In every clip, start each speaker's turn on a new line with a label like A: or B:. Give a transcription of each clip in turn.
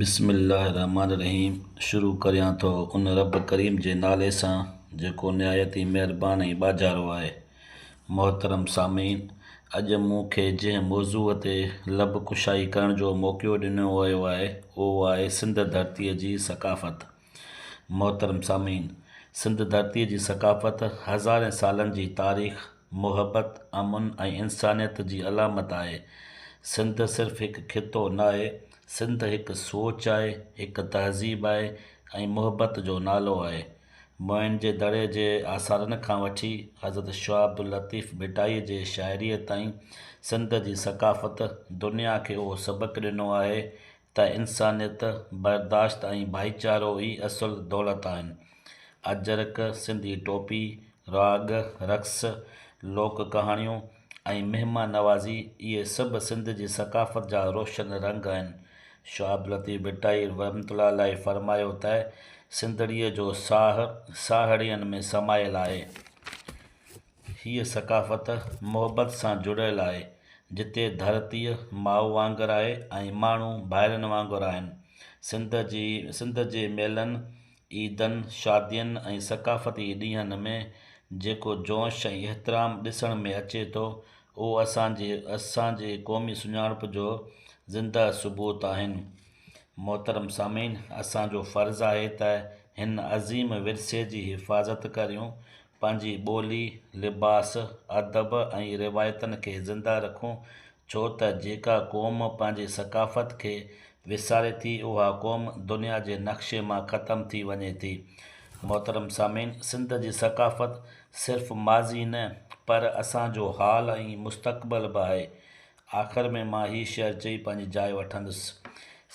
A: بسم الله الرحمٰن الرحيم شروع ڪريان ٿو ان رب ڪريم جي نالي سان جيڪو نهايت ئي مهربان ۽ ٻاجهارو آهي. محترم سامعين! اڄ مون کي جنهن موضوع تي لب ڪشائي ڪرڻ جو موقعو ڏنو ويو آهي اهو آهي سنڌ ڌرتيء جي ثقافت ۽ محترم سامعين! سنڌ ڌرتيء جي ثقافت هزارين سالن جي تاريخ، محبت، امن ۽ انسانيت جي علامت آهي. سنڌ صرف هڪ خطو ناهي، سنڌ هڪ سوچ آهي، هڪ تهذيب آهي ۽ محبت جو نالو آهي. موئن جي دڙي جي آثارن کان وٺي حضرت شاهه عبداللطيف ڀٽائيء جي شاعريء تائين سنڌ جي ثقافت دنيا کي اهو سبق ڏنو آهي ته انسانيت، برداشت ۽ ڀائيچارو ئي اصل دولت آهن. اجرڪ، سنڌي ٽوپي، راڳ، رقص، لوڪ ڪهاڻيون ۽ مهمان نوازي اهي سڀ سنڌ جي ثقافت جا روشن رنگ آهن. شاه عبداللطيف ڀٽائي رحمة الله عليه فرمايو ته سنڌڙيء جو ساهه ساهڙين ۾ سمايل آهي. هيء ثقافت محبت سان جڙيل آهي، جتي ڌرتيء ماء وانگر آهي ۽ ماڻهو ڀائرن وانگر آهن. سنڌ جي سنڌ جي ميلن، عيدن، شادين ۽ ثقافتي ڏينهن ۾ جيڪو جوش ۽ احترام ڏسڻ ۾ اچي ٿو، اهو اسان جي اسان جي قومي سڃاڻپ جو زنده ثبوت آهن. محترم سامعين! اسان جو فرض آهي ته هن عظيم ورثي جي حفاظت ڪريون، پنهنجي ٻولي، لباس، ادب ۽ روايتن کي زنده رکون، ڇو ته جيڪا قوم پنهنجي ثقافت کي وساري ٿي اها قوم دنيا جي نقشي مان ختم ٿي وڃي ٿي. محترم سامعين سنڌ جي ثقافت صرف ماضي نه پر اسان جو حال ۽ مستقبل به آهي. آخر ۾ مان هي شعر چئي پنهنجي جاء وٺندس.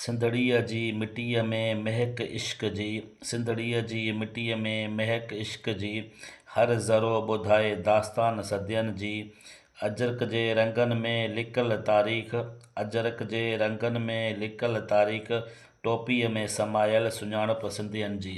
A: سنڌڙيء جي مٽيء ۾ مهڪ عشق جي سنڌڙيء جي مٽيء ۾ مهڪ عشق جي هر ذرو ٻڌائي داستان صدين جي اجرڪ جي رنگن ۾ لڪل تاريخ اجرڪ جي رنگن ۾ لڪل تاريخ ٽوپيء ۾ سمايل سڃاڻپ سنڌين جي.